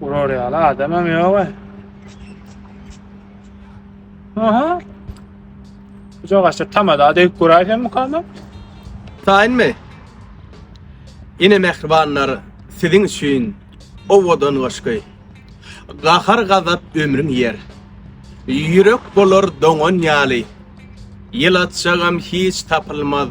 Urar ýaly adamam ýok-a. Aha. Uca gaçda tamada degip guraýsam mukama. Taýynmy? Ine mähribanlar, siziň üçin owadan goşgy. Gahar gazap ömrüň ýer. Ýürek bolar doňan ýaly. Ýylatjagam hiç tapylmaz.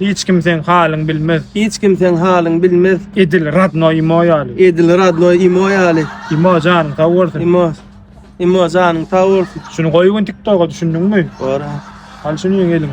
Hiç kim seň halyň bilmez. Hiç kim seň halyň bilmez. Edil radno imo ýaly. Edil radno imo ýaly. Imo janyň sag bolsun. Imo. Imo janyň sag bolsun. Şuny goýup gün TikToka düşündiňmi? Bora. Al şuny ýeňeliň.